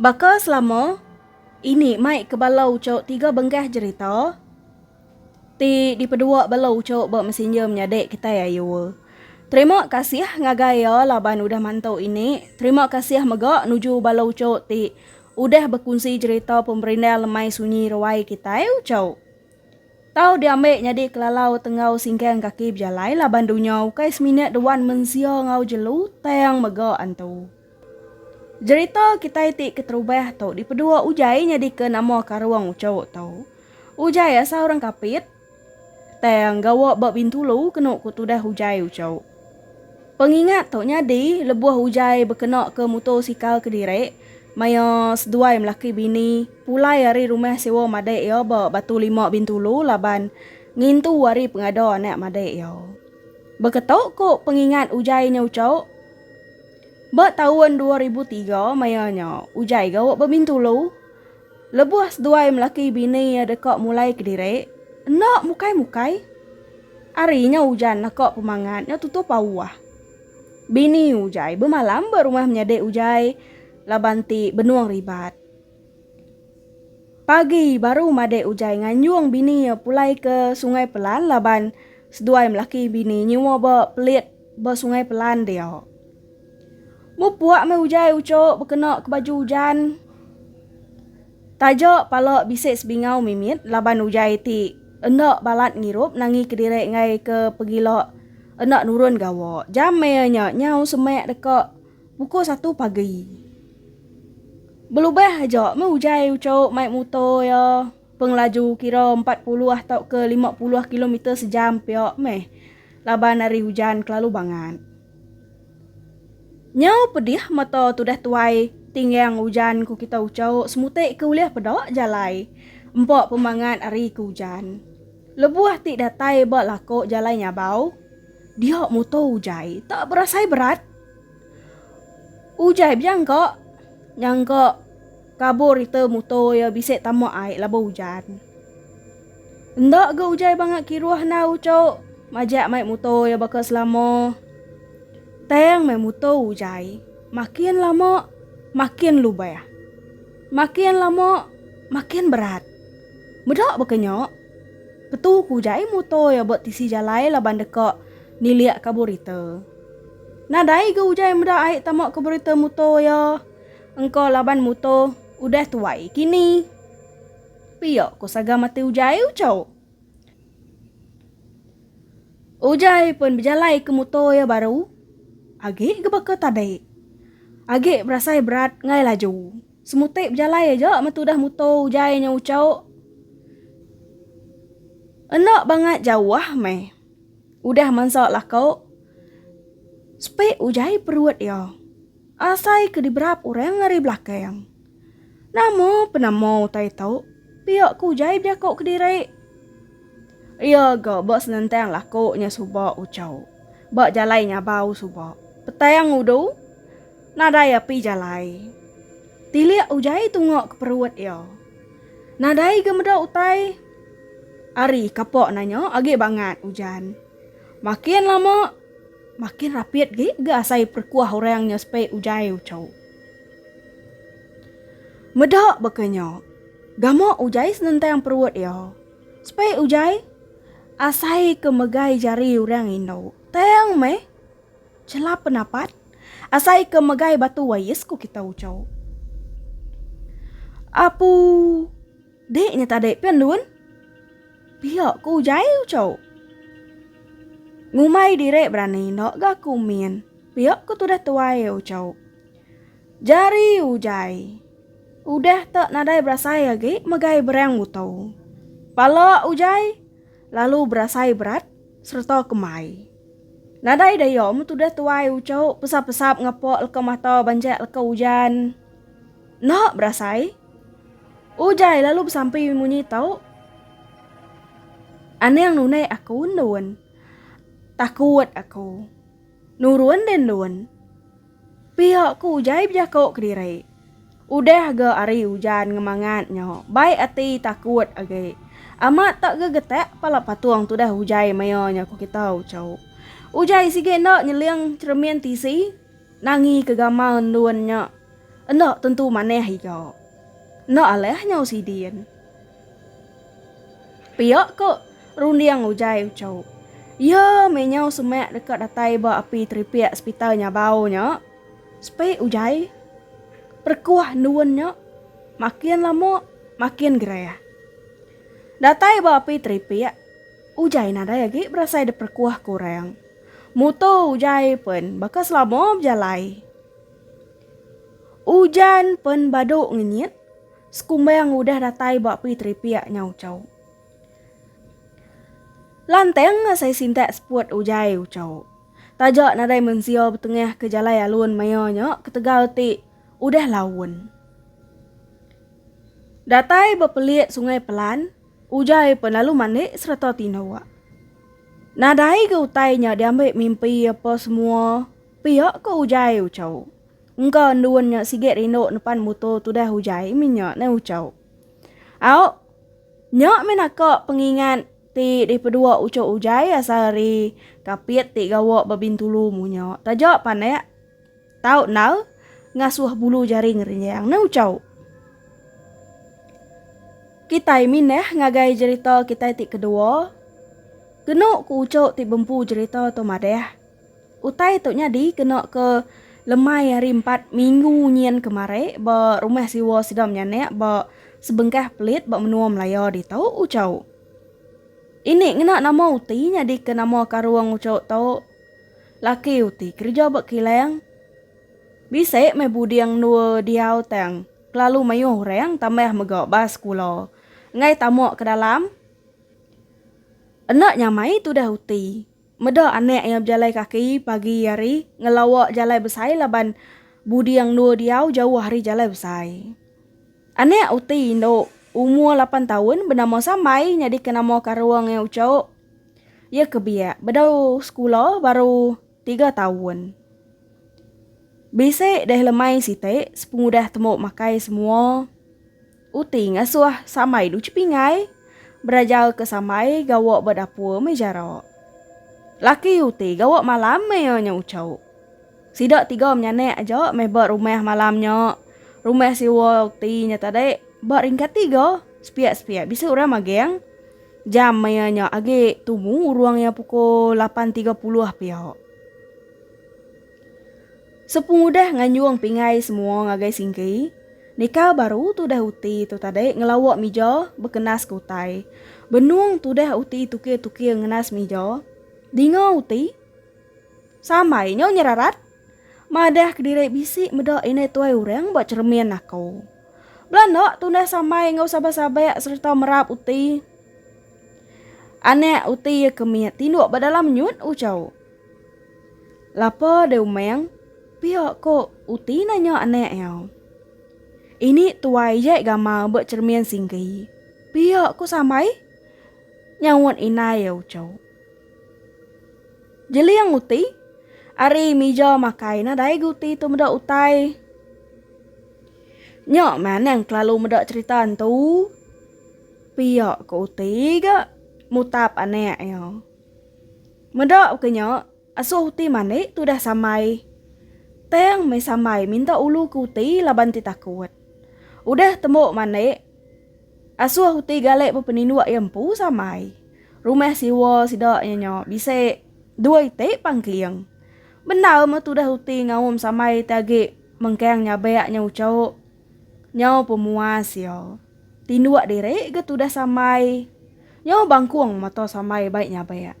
Baka selama ini mai ke bala uchu tiga benggah jerita ti dipedua bala uchu ba messenger menyadi kitai ayu. Terima kasih ngagai iya laban udah mantu ini. Terima kasih mega nuju bala uchu ti udah bekunsi jerita pemberindang lemai sunyi ruai kitai uchu. Tau diambi nyadi kelalau tenggau singkang kaki bejalai laban dunya ukai semina dewan mensia enggau jelu tang mega antu. Jerita kitai ti keterubah tu dipedua Ujai nyadika nama Karong Ucho tu. Ujai asal orang Kapit, tang gawa ba Bintulu kenu ku tudah Ujai Ucho. Pengingat tu nyadi lebuh Ujai bekenaka mutosikal kediri maya seduai melaki bini pulai ari rumah sewa madik iya ba Batu Lima Bintulu laban ngintu ari pengada anak madik iya. Baka tu ku pengingat Ujai nya Ucho. Ba taun dua ribu tiga maya nya, Ujai gawa Bebintulu. Lebuh seduai melaki bini iya deka mulai kediri, enda mukai-mukai. Ari nya ujan naka pemangat nya tutup auh. Bini Ujai bemalam ba rumah menyadi Ujai laban ti benung ribat. Pagi baru madik Ujai nganjung bini iya pulai ke Sungai Pelan laban seduai melaki bini nyua ba pelit ba Sungai Pelan dia. Mupuk meh Ujai ucuk bekena ke baju ujan. Taja pala bisi sebingau mimit laban Ujai ti enda balat ngirup nangi kediri enggai ke pegila enda nurun gawa. Jam maya nya nyau semak deka. Pukul satu pagi. Belubah aja meh ujai uchouk mai mutor iya pengelaju kira empat puluh tauka lima puluh kilometer sejam pia meh laban ari hujan kelalu bangat. Nyau pedih mata tudah tuai tinggang ujan ku kita uchouk semutik ke ulih peda jalai empa pemangat ari ke ujan. Lebuh ti datai ba lako jalai nyabau dia mutor ujai tak berasai berat. Ujan nya bejang ka nyangka kabur ita muto iya bisi tama ai laban ujan. Enda ga ujan bangat kiruh enggau ucho majak mai muto iya baka selama. Tang mai muto ujan makin lama makin lubah. Makin lama makin berat. Meda baka nya ketu ku ujan muto iya ba tisi jalai laban deka nilik kabur ita. Nadai ga ujan meda ai tama ke berita muto iya engka laban muto udah tuai kini. Pia ko saga mati ujai uco. Ujai pen bejalai ke muto iya baru agi ga baka tadi. Agi berasai berat ngai laju. Semuti bejalai aja meh tudah muto ujai nya uco. Enda bangat jauh meh. Udah mansa lako, sepik ujai perut iya. Asai ke diberap orang ari belakang. Nama penama utai tu? pia ke ujai bejako kediri. Iya ga ba senentang lako nya suba ucau. Ba jalai nyabau suba. Petang udu, nadai api jalai. Tilik ujai tunga ke perut iya. Nadai ga meda utai. Ari kapok nanya agi bangat ujan. Makin lama makin rapit gi ga asai perkuah orang nya sepai ujai ucau. Meda baka nya, gamu ujai senentang perut iya. Sepai ujai asai ke megai jari orang indu. Tang meh chelap penapat asai ke megai batu ais ku kita ucau. Apu. Dik nya tadi pen lun. Pia ku ujai uco. Ngumbai diri berani enda ga ku min. Pia ku tudah tuai uco. Jari ujai. Udah tak nadai berasai agi megai berang uto. Pala ujai lalu berasai berat serta kemai. Nadai daya mun tudah tuai uco pesap-pesap ngapa leka mata banjak leka ujan. Enda berasai. Ujai lalu besampi munyi tu. Anang nunai aku endun. Takut aku. Nurun deh endun. Pia ku Ujai bejako kediri. Udah ga ari ujan ngemangat nyo, bai ati takut agi. Amat tak ga getak pala patung tudah Ujai maya nyo ku kitu, Chau. Ujai sigi enda nyeling cheremin tisi. Nangi ke gamal endun nya enda tentu manah iya. Enda alah nyau sidin. Pia ke runding Ujai uchu. Iya meh nyau semak deka datai ba api teripik sepital Nyabau nya. Sepi Ujai. Perekuh endun nya makin lama makin gerah. Datai ba api teripik, Ujai nadai agi berasai diperekuh ke orang. Muto ujai pen baka selama bejalai. Ujan pen badu ngenyit, sekumbang udah datai ba pi teripik nya uco. Lantang asai sintak seput ujai uco. Taja nadai mensia betengah ke jalai alun maya nya ketegal ti udah laun. Datai bepelik Sungai Pelan. Ujar Ephon lalu mandik sereta tindua. Nadai ga utai nya diambi mimpi apa semua piak ko Ujai Uchau. Engka endun nya sigi rindu nepan muto tudah Ujai minya ne Uchau. Au nya meh naka pengingat ti dipedua ucho Ujai asal ari Kapit ti gawa ba Bintulu munya taja panek. Tau nal ngasuh bulu jari ngerinjang ne ucau. Kitai mindah ngagai jerita kitai ti kedua. Kenu ku ucau ti bempu jerita tu madah. Utai tu nyadi kena ke lemai hari empat minggu nyin kemari ba rumah siwa sida menyanak ba sebengkah pelit ba menua Melaya ditu ucau. Ini ngena nama uti nyadika nama karung ucau tu. Laki uti kerja ba kilang. Bisi meh buding endur diau tang kelalu mayuh orang tambah mega ba sekula enggai tama ke dalam. Enda nyamai tudah uti. Meda anak iya bejalai kaki pagi hari ngelawa jalai besai laban buding endur diau jauh ari jalai besai. Anak uti indu umur lapan taun benama Sambai nyadika nama karung iya Uchok. Iya ke biak bedau sekula baru tiga taun. Bisi deh lemai siti sepengudah tembu makai semua uti ngasuh samai du Chepingai berajar ke samai gawa ba dapur meh jarak. Laki uti gawa malam meh iya nya uchu. Sida tiga menyanak aja meh ba rumah malam nya. Rumah sewa uti nya tadi ba ringkat tiga, sepiak-sepiak bisi orang magang. Jam maya nya agi tumu urung iya pukul 8.30 pia. Sepengudah nganjung pingai semua ngagai Singki, Nikal baru tudah uti tu tadi ngelawa mija bekenas ke utai. Benung tudah uti tukir-tukir ngenas mija. Dinga uti, sambai nya nyerarat. Madah kediri bisi meda indai tuai orang ba cheremin aku. Belanda tundah samai enggau sabak-sabak sereta merap uti anak uti iya ke mit tinduk ba dalam nyut ucau. Lapa deh umang, pia ko uti nanya anak iya. Ini tuai jai gamal ba cheremin singgi. Pia ko samai? Nyaut indai iya ucau. Jeling uti ari mija makai nadai ga uti tu meda utai. Nya manang kelalu meda cerita entu. Pia ko uti ga mutap anak iya. Meda ke nya asuh uti mani tudah samai. Tang meh samai minta ulu ke uti laban ti takut. Udah tembu mani. Asuh uti galek bepeninduk iya empu samai. Rumah siwa sida iya nya bisi dua iti pangkeling. Bendar meh tudah uti ngaum samai ti agi mengkang nyabak nya uchup. Nyau pemuas iya. Tinduk diri ga tudah samai. Nyau bangkung mata samai bai nyabak.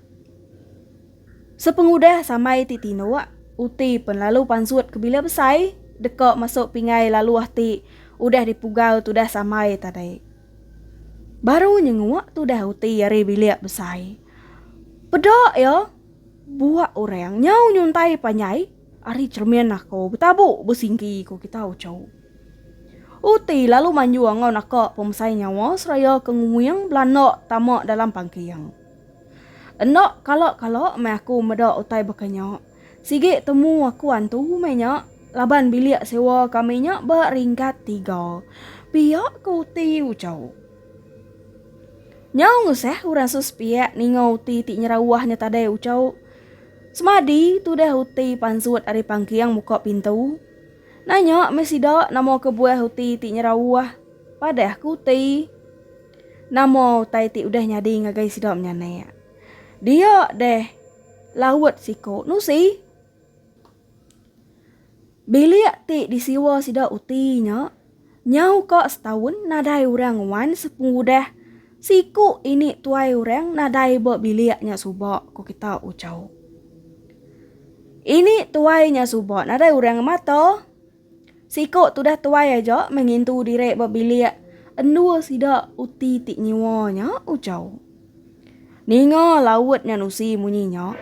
Sepengudah samai ti tinuk, uti penlalu pansut ke bila besai deka masuk pingai laluh ti udah dipugau tudah samai tadi. Baru nyenguk tudah uti ari bilik besai. Peda iya, buak orang nyau nyuntai panjai ari chremin aku betabu besinggi ku kita uchu. Uti lalu manjung enggau naka pemesai nyawa seraya ke nguing belanda tama dalam pangking. Enda kala-kala meh aku meda utai baka nya. Sigi temu aku antu meh nya laban bilik sewa kami nya ba ringkat tiga pia ke uti uchauk. Nyau ngusah orang suspiak ninga uti ti nyerawah nya tadai uchauk. Semadi tudah uti pansut ari pangking muka pintu. Nanya meh sida nama kebuah uti ti nyerawah padah ke uti. Nama utai ti udah nyadi ngagai sida menyanak? Dia deh laut siku nusi. Bilik ti disiwa sida uti nya nyau ka setaun nadai orang wan sepengudah siku ini tuai orang nadai ba bilik nya suba, ku kita uchauk. Ini tuai nya suba nadai orang ngemata. Siku tudah tuai aja meh ngintu diri ba bilik endua sida uti ti nyiwa nya ujau. Ninga laut nya nusi munyi nya,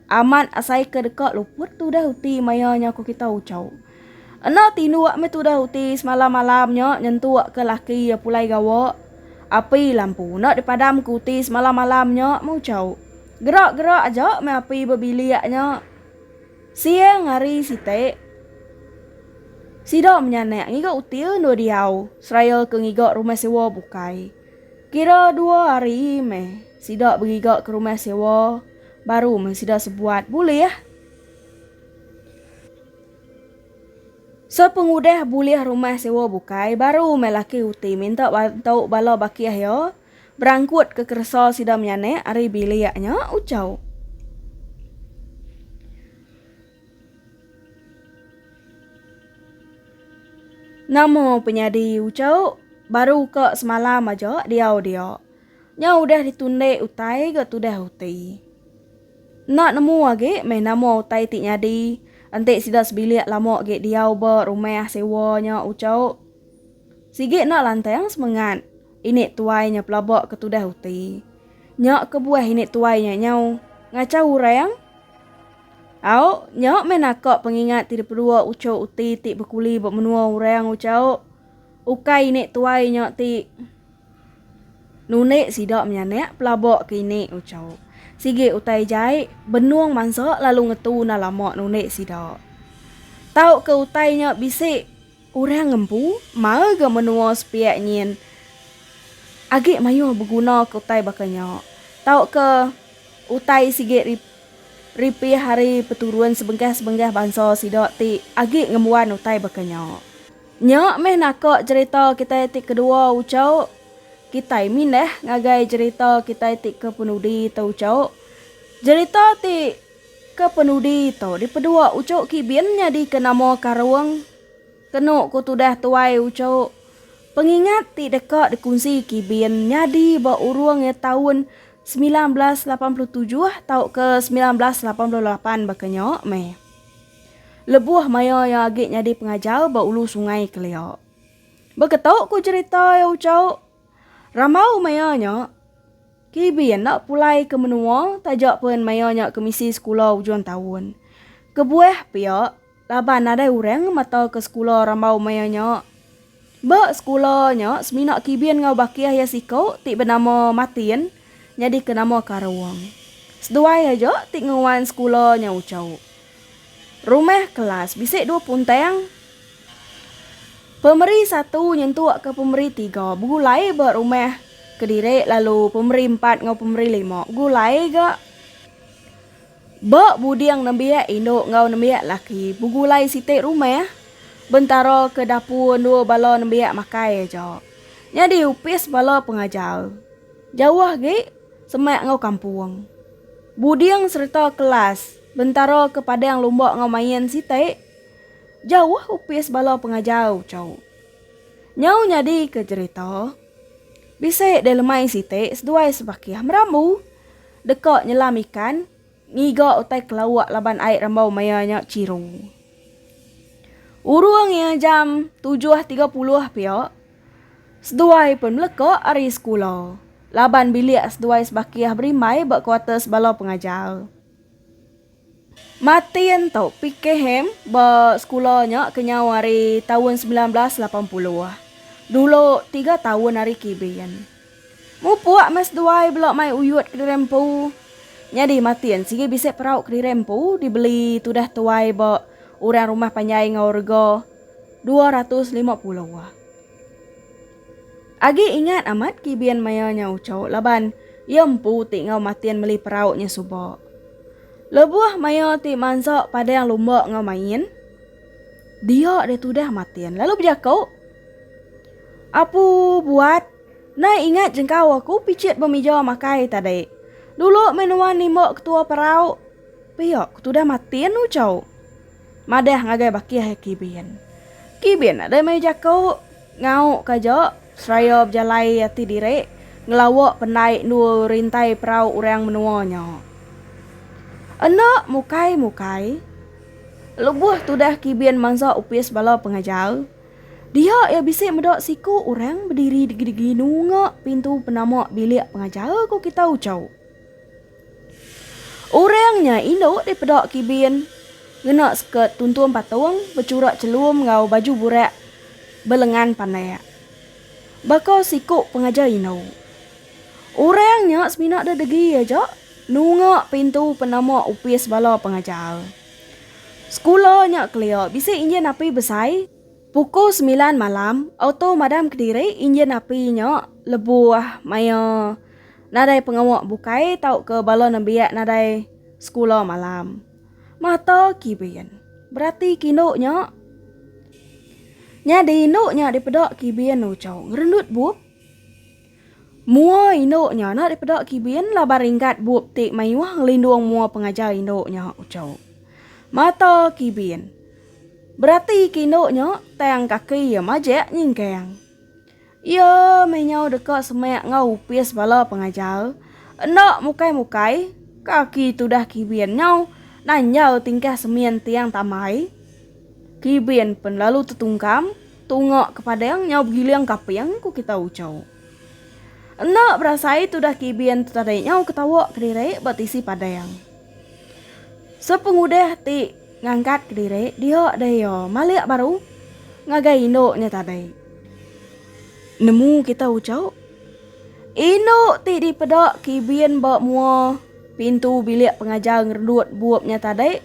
amat asai ke deka luput tudah uti maya nya ku kita ujau. Enda tinduk meh tudah uti semalam-malam nya nyentuk ke laki iya pulai gawa. Api lampu enda dipadam ke uti semalam-malam nya meh ujau. Gerak-gerak aja meh api ba bilik nya. Siang hari siti, sida menyanak ngiga uti endur diau seraya ke ngiga rumah sewa bukai. Kira dua hari meh sida bengiga ke rumah sewa baru meh sida sebuat bulih. Sepengudah bulih rumah sewa bukai baru meh laki uti minta bantu bala baki iya. Berangkutka keresa sida menyanak ari bilik nya ucau. Nama penyadi ucau baru ka semalam aja diau dia. Nya udah ditundik utai ga tudah uti. Enda nemu agi meh nama utai ti nyadi enti sida sebilik lama agi diau ba rumah sewa nya ucau. Sigi enda lantang semengat. Ini tuai nya pelaba ke tudah uti. Nya kebuah ini tuai nya nyau ngachau orang. Au, nya meh naka pengingat ti dipedua uchu uti ti bekuli ba menua orang uchu. Ukai ini tuai nya ti nundi sida menyanak pelaba ke ini uchu. Sigi utai jai, benung mansa lalu ngetu enda lama nundi sida. Tauka utai nya bisi. Orang empu marga menua sepiak nyin agi mayuh begunaka utai baka nya tauka utai sigi ripih ari peturun sebengkah-sebengkah bansa sida ti agi ngembuan utai baka nya. Nya meh naka jerita kitai ti kedua ucau, kitai mindah ngagai jerita kitai ti kepenudi tauka jerita ti. Kepenudi tu dipeduk Uchu Kibin nyadika nama Karung. Kenu ku tudah tuai Uchu, pengingat ti deka dikunsi Kibin nyadi ba urung iya taun semilan belas lapan puluh tujuh tauka semilan belas lapan puluh lapan baka nya meh. Lebuh maya iya agi nyadi pengajar ba Ulu Sungai kelia. Baka tu ku jerita iya Uchu, rambau maya nya, KB enda pulai ke menua taja pen maya nya kemisi sekula ujung taun. Kebuah pia, laban nadai orang ngemata ke sekula rambau maya nya. Ba sekula nya semina KB enggau bakih iya siku ti benama Martin nyadika nama karung. Seduai aja ti ngeruan sekula nya uchu. Rumah kelas bisi dua puntang. Pemeri satu nyentukka pemeri tiga begulai ba rumah kediri lalu pemeri empat enggau pemeri lima begulai ga ba buding nembiak indu enggau nembiak laki begulai siti rumah bentara ke dapur endur bala nembiak makai aja. Nyadi opis bala pengajar jauh agi semak enggau kampung. Buding sereta kelas. Bentara ke padang lumba enggau main siti. Jauh opis bala pengajar uco. Nyau nyadi ke jerita. Bisi deh lemai siti seduai sebakih merambu. Deka nyelam ikan ngiga utai kelauk laban ai rambau maya nya chiru. Urung iya jam tujuh tiga puluh pia seduai pen meleka ari sekula laban bilik seduai sebakih berimbai ba kuarters bala pengajar. Martin tau pike ham ba sekula nya kenyau ari taun semilan belas lapan puluh, dulu tiga taun ari Kibin. Mupuk meh seduai bela mai uyut kediri empu. Nyadi Martin sigi bisi perau kediri empu dibeli tudah tuai ba orang rumah panjai enggau rega dua ratus lima puluh. Agi ingat amat Kibin maya nya uchauk laban iya empu ti enggau matin meli perauk nya suba. Lebuh maya ti mansa padang lumba enggau main, dia dia tudah matin lalu bejaku, Apu buat, nai ingat jengkau aku pichit ba mija makai tadi. Dulu meh nuan nimba ketua perauk, pia ku tudah matin uchauk. Madah ngagai bakih iya Kibin. Kibin nadai mai jaku, Ngauk ka aja, seraya bejalai ati diri, ngelawa pendai endur rintai perau orang menua nya. Enda mukai-mukai, lebuh tudah Kibin mansa opis bala pengajar, dia iya bisi meda siku orang bediri digi-digi nunga pintu penama bilik pengajar, ku Kitau Chau. Orang nya indu ti peda kibin ngena skirt tuntung patung bechura chelum enggau baju burak belengan pandak. Baka siku pengajar indu. Orang nya semina deh degi aja nunga pintu penama opis bala pengajar. Sekula nya kelia bisi injin api besai. Pukul semilan malam, auto madam kediri injin api nya lebuh maya nadai pengawa bukai tauka bala nembiak nadai sekula malam. Mata Kibin. Berati ke indu nya. Nyadi indu nya dipeda Kibin uchu ngerendut bup. Mua indu nya enda dipeda kibin laban ringgat bup ti mayuh ngelindung mua pengajar indu nya uchu. Mata kibin. Berati ke indu nya tang kaki iya majak nyingkang. Iya meh nyau deka semak enggau opis bala pengajar. Enda mukai-mukai, kaki tudah kibin nyau nanjau tingkah semin tiang tambai. Kibin pen lalu tetungkam. Tunga ke padang nyau begiling kaping, ku kita ucau. Enda berasai tudah kibin tu tadi nyau ketawa kediri ba tisi padang. Sepengudah ti ngangkat kediri dia deh iya malik baru ngagai indu nya tadi. Nemu kita ucau. Indu ti dipeda kibin ba mua pintu bilik pengajar ngerendut bup nya tadi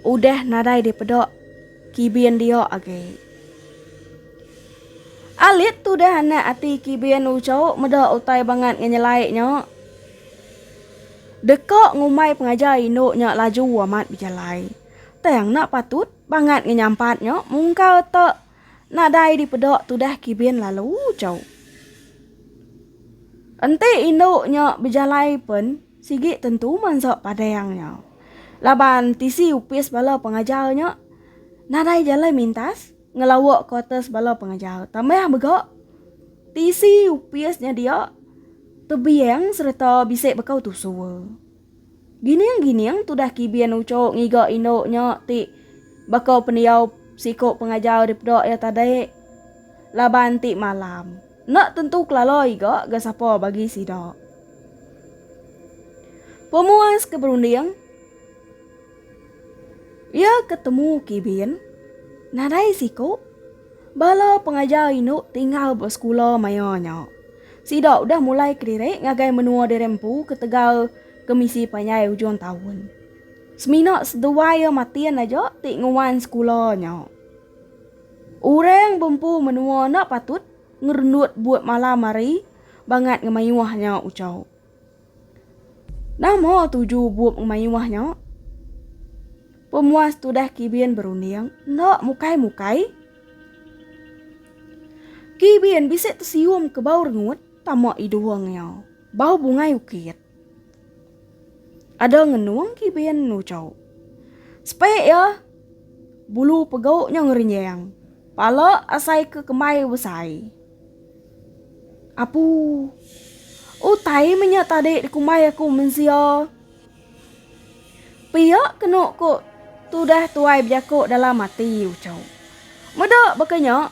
udah nadai dipeda. Kibin dia agi. Alit tudah anak ati Kibin ucok meda utai bangat ngenyelai nya. Deka ngumbai pengajar indu nya laju amat bejalai. Tang enda patut bangat ngenyampat nya mungkal te nadai dipeda tudah Kibin lalu ucok. Enti indu nya bejalai pen. Sigi tentu mansa padang nya. Laban tisi opis bala pengajar nya nadai jalai mintas ngelawa kuarters bala pengajar tambah mega tisi opis nya dia tebiang sereta bisi bekau tusur. Gining-gining tudah Kibin uchu ngiga indu nya ti baka pendiau siku pengajar dipeda iya tadi laban ti malam. Enda tentu kelala iga ga sapa bagi sida. Pemuas ke berunding Iya ke temu Kibin, nadai siku bala pengajar indu tinggal ba sekula maya nya. Sida udah mulai kediri ngagai menua diri empu ketegal kemisi panjai ujung taun. Semina seduai iya matin aja ti nguan sekula nya. Orang bempu menua enda patut ngerendut buat malam hari bangat ngemayuh nya ucau. Nama tuju bup ngemayuh nya? Pemuas tudah Kibin berunding enda mukai-mukai. Kibin bisi tesium ke bau rengut tama idung iya. Bau bungai ukit. Ada ngenung ti bein enu chauk. Sepek iya, bulu pegauk nya ngerenjang. Pala asai ke kembai besai. Apu. Utai me nya tadi dikumbai aku mensia. Pia kenu ku tudah tuai bejaku dalam ati u chauk. Meda baka nya,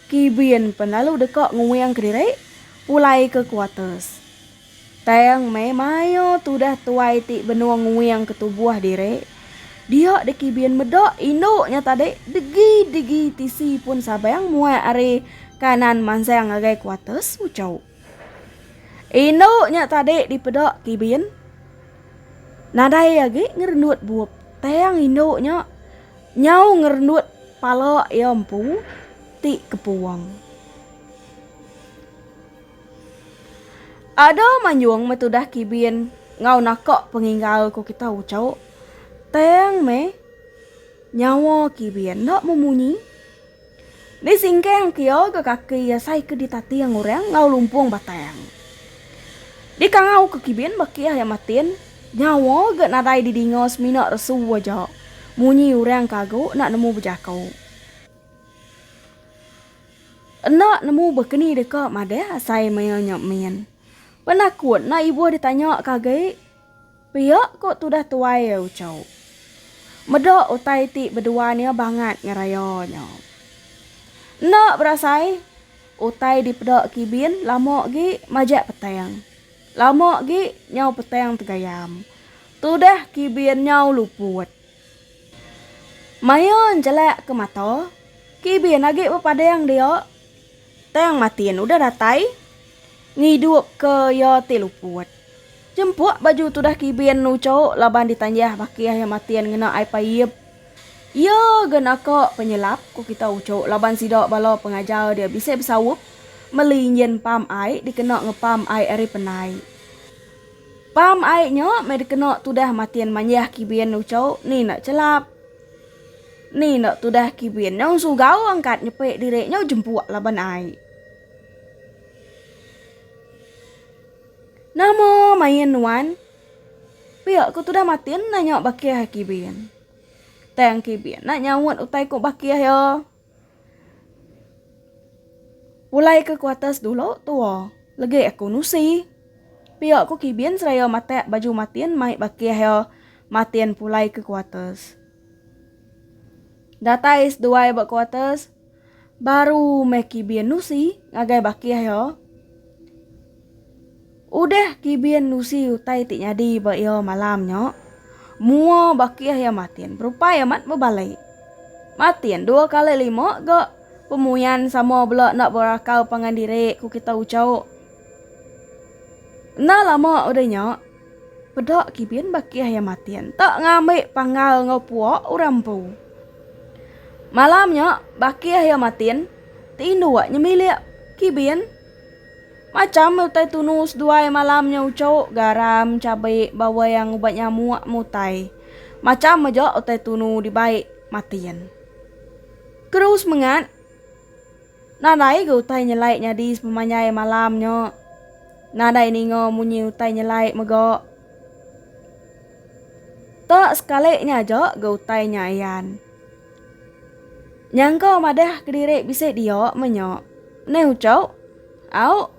Kibin pen lalu deka nguing kediri pulai ke kuates. Tang meh mayuh tudah tuai ti benung nguing ke tubuh diri. Dia deki bin meda indu nya tadi degi-degi tisi pun sabang muat ari kanan mansang ngagai kuarters Ucho. Indu nya tadi dipeda ke bin nadai agi ngerendut bup tang indu nya nyau ngerendut pala iya empu ti kepung. Ada manjung meh tudah kibin enggau naka pengingau ku kita uchu. Tang meh nyawa kibin enda memunyi. Di singkang ke iya ke kaki iya sai ke ditating orang enggau lumpung batang. Di kangau ke kibin baki iya matin nyawa ga nadai didinga semina resu aja munyi orang ke agu enda nemu bejaku. Enda nemu bekeni deka madah asai maya nya min. Penakut enda ibuh ditanya ka agi pia ko tudah tuai iya ucau. Meda utai ti beduan iya bangat ngeraya nya. Enda berasai utai dipeda Kibin lama agi majak petang. Lama agi nyau petang tegayam. Tudah Kibin nyau luput. Mayun jelak ke mata, kibin agi bepadang dia, tang matin udah datai, ngidupka iya ti luput. Jempuk baju tudah kibin nucho laban ditanjah baki iya matin ngena ai paip. Iya ga naka penyelap ku kita ucho laban sida bala pengajar dia bisi besaup meli injin pam ai dikena ngepam ai ari penai. Pam ai nya meh dikena tudah matin manjah kibin nuchau ni enda chelap. Ni enda tudah kibin nyau sugau angkat nyepe diri nyau jempuk laban ai. Nama main nuan? Pia ku tudah matin nanya bakih kibin. Tang kibin enda nyaut utai ku bakih iya. Pulai ke kuatas dulu tua legi aku nusi. Pia ku kibin seraya matak baju matin mai bakih iya matin pulai ke kuatas. Datai seduai ba kuatas baru meh kibin nusi ngagai bakih iya. Udah Kibin nusi utai ti nyadi ba iya malam nya, mua bakih iya matin berupai amat bebalai. Matin dua kali lima ga pemuyan sama bela enda berakal pangan diri, ku kita uchu. Enda lama udah nya, peda Kibin bakih iya matin enda ngambi panggal enggau pua orang empu. Malam nya, bakih iya matin tinduk nyemilik Kibin. Macham utai tunu seduai malam nya ucuk, garam, cabe, bawang, ubat nyamuk, mutai. Macham aja utai tunu dibai Matin. Keru semengat, nadai ga utai nyelai nyadi sepemanjai malam nya. Nadai ninga munyi utai nyelai mega. Ta sekali nya aja ga utai nya ayan. Nyangka madah kediri bisi dia menya. Mneh ucuk. Au.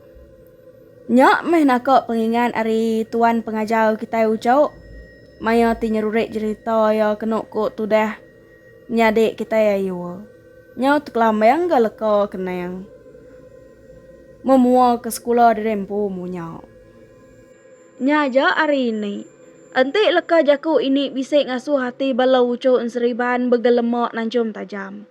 Nya meh naka pengingat ari tuan pengajar kitai ucok maya ti nyerurik jerita iya kenu ku tudah nyadi kitai ayuh. Nyau tekelambang ga leka kenang mun mua ke sekula diri empu munya. Nya aja ari ini. Enti leka jaku ini bisi ngasuh ati bala ucok enseriban begelema nanchum tajam.